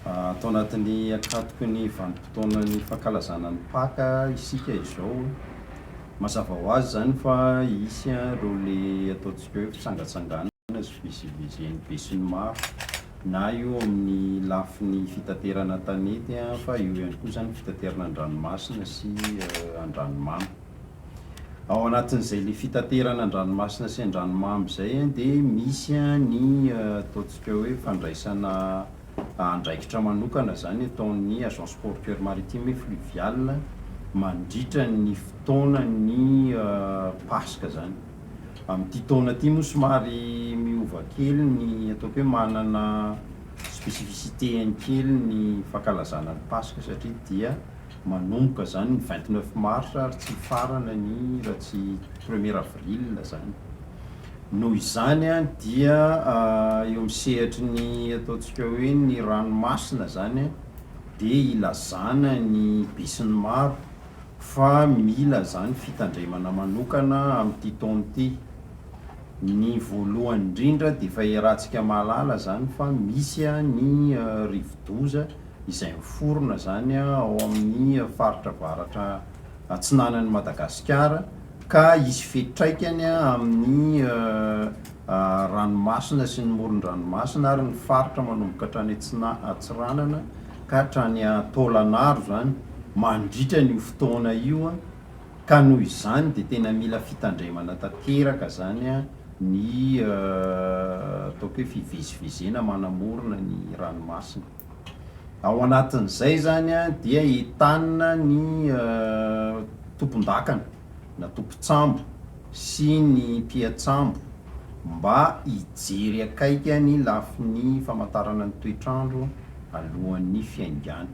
Tao anatin'ny ankatoky ny vanim-potoanan'ny fankalazana ny Paka isika izao. Mazava ho azy izany fa hisy ireo le ataontsika hoe fitsangatsanganana. fifidianana sy fivezivezen'ny besinimaro na io amin'ny lafiny fitaterana an-tanety fa eo ihany koa izany fitaterana an-dranomasina sy an-dranomamy. Ao anatin'izay ilay fitaterana an-dranomasina sy an-dranomamy izay dia misy ny ataontsika hoe fandraisana andraikitra manokana izany ataon'ny agence portuaire maritime et fluviale mandritra ny fotoanan'ny Paska izany. Amin'ity taona ity moa somary miova kely ny ataoko hoe manana spécificité-ny kely ny fankalazana ny Paska satria dia manomboka izany ny vingt neuf mars ary tsy mifarana ny raha tsy premier avril izany. Noho izany dia eo amin'ny sehatry ny ataontsika hoe ny ranomasina izany dia ilazana ny besinimaro. fa mila izany fitandremana manokana amin'ity taona ity. Ny voalohany indrindra dia efa iarahantsika mahalala izany fa misy ny rivodoza izay miforona izany ao amin'ny faritra avaratra atsinanan'i Madagasikara ka hisy fiantraikany amin'ny ranomasina sy ny moron-dranomasina ary ny faritra manomboka hatrany atsina- atsiranana. ka hatrany an-taolan'aro izany mandritra an'io fotoana io ka noho izany dia tena mila fitandremana tanteraka izany ny ataoko hoe fivezivezena manamorona ny ranomasina. Ao anatin'izay izany dia entanina ny tompondakana. na tompon-tsambo sy ny mpiatsambo mba hijery akaiky ny lafiny famantarana ny toetr'andro alohan'ny fiaingàny.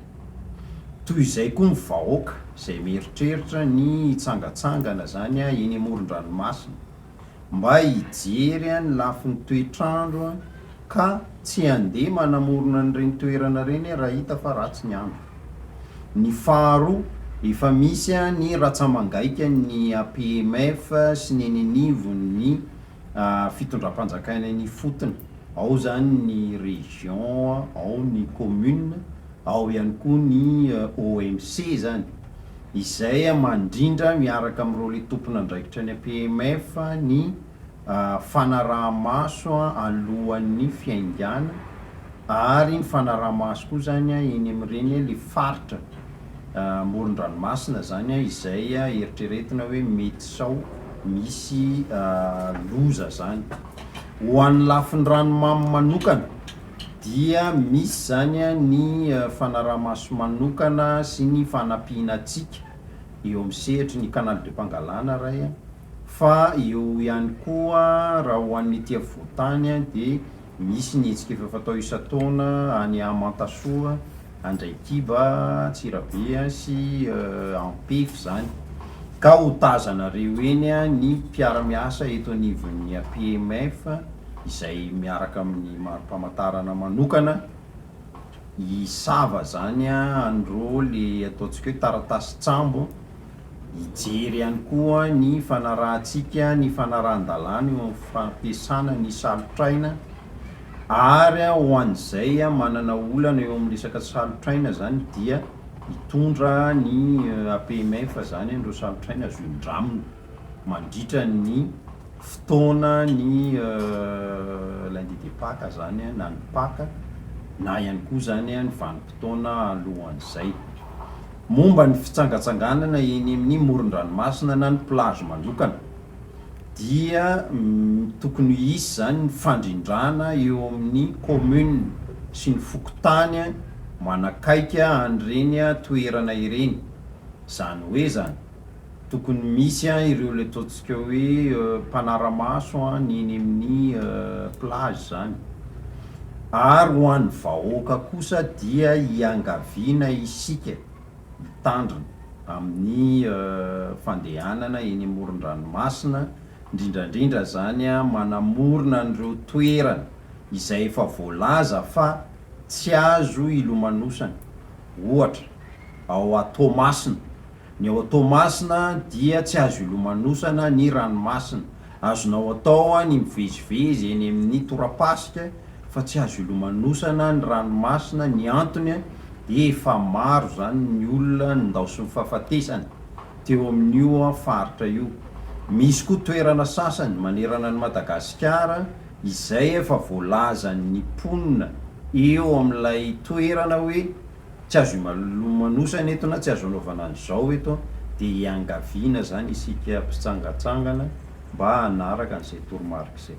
Toy izay koa ny vahoaka izay mieritreritra ny hitsangatsangana izany eny amoron-dranomasina. mba hijery ny lafiny toetr'andro ka tsy handeha manamorona an'ireny toerana ireny raha hita fa ratsy ny andro. Ny faharoa, efa misy ny ratsamangaika ny APMF sy ny eny anivon'ny fitondram-panjakana eny ifotony, ao izany ny région, ao ny commune, Ao ihany koa ny OMC izany, izay mandrindra miaraka amin'ireo le tompon'andraikitra any APMF ny fanaraha-maso alohan'ny fiaingàna ary ny fanaraha-maso koa izany eny amin'ireny le faritra amoron-dranomasina izany izay eritreretina hoe mety sao misy loza izany. Ho an'ny lafin-dranomamy manokana. dia misy izany ny fanaraha-maso manokana sy ny fanampiana antsika eo amin'ny sehatry ny Canal de Pangalana iray an, fa eo ihany koa raha ho an'ny ety afovoan-tany dia misy ny hetsika efa fatao isan-taona any Amantasoa handray kiba, Antsirabe sy Ampefy izany ka ho tazanareo eny ny mpiara-miasa eto anivon'ny APMF izay miaraka amin'ny mari-pamantarana manokana hisava izany an'ireo le ataontsika hoe taratasy tsambo Hijery ihany koa ny fanarahantsika ny fanarahan-dalàna eo amin'ny fampiasana ny salotr'aina ary ho an'izay manana olana eo amin'ny resaka salotr'aina izany dia hitondra ny APMF izany an'ireo salotr'aina azo indramina mandritra ny fotoana ny lundi de paque izany na ny paque na ihany koa izany ny vanim-potoana alohan'izay. momba ny fitsangantsanganana eny amin'ny moron-dranomasina na ny plage manokana dia tokony ho hisy izany ny fandrindrana eo amin'ny commune sy ny fokontany manakaiky an'ireny toerana ireny, izany hoe izany. Tokony misy an ireo le ataontsika hoe mpanaramaso an ny eny amin'ny plage zany. Ary ho an'ny vahoaka kosa dia iangaviana isika hitandrina amin'ny fandehanana eny amoron-dranomasina, indrindra indrindra zany an manamorona an'ireo toerana izay efa voalaza fa tsy azo ilomanosana, ohatra ao Toamasina. Ny ao Toamasina dia tsy azo ilomanosana ny ranomasina. Azonao atao ny mivezivezy eny amin'ny torapasika fa tsy azo ilomanosana ny ranomasina, ny antony dia efa maro izany ny olona nindaosin'ny fahafatesana teo amin'io faritra io. Misy koa toerana sasany manerana an'i Madagasikara izay efa voalazan'ny mponina eo amin'ilay toerana hoe tsy azo imalomanosana eto na tsy azo anaovana an'izao eto an, dia hiangaviana izany isika mpitsangatsangana mba hanaraka an'izay toromarika izay.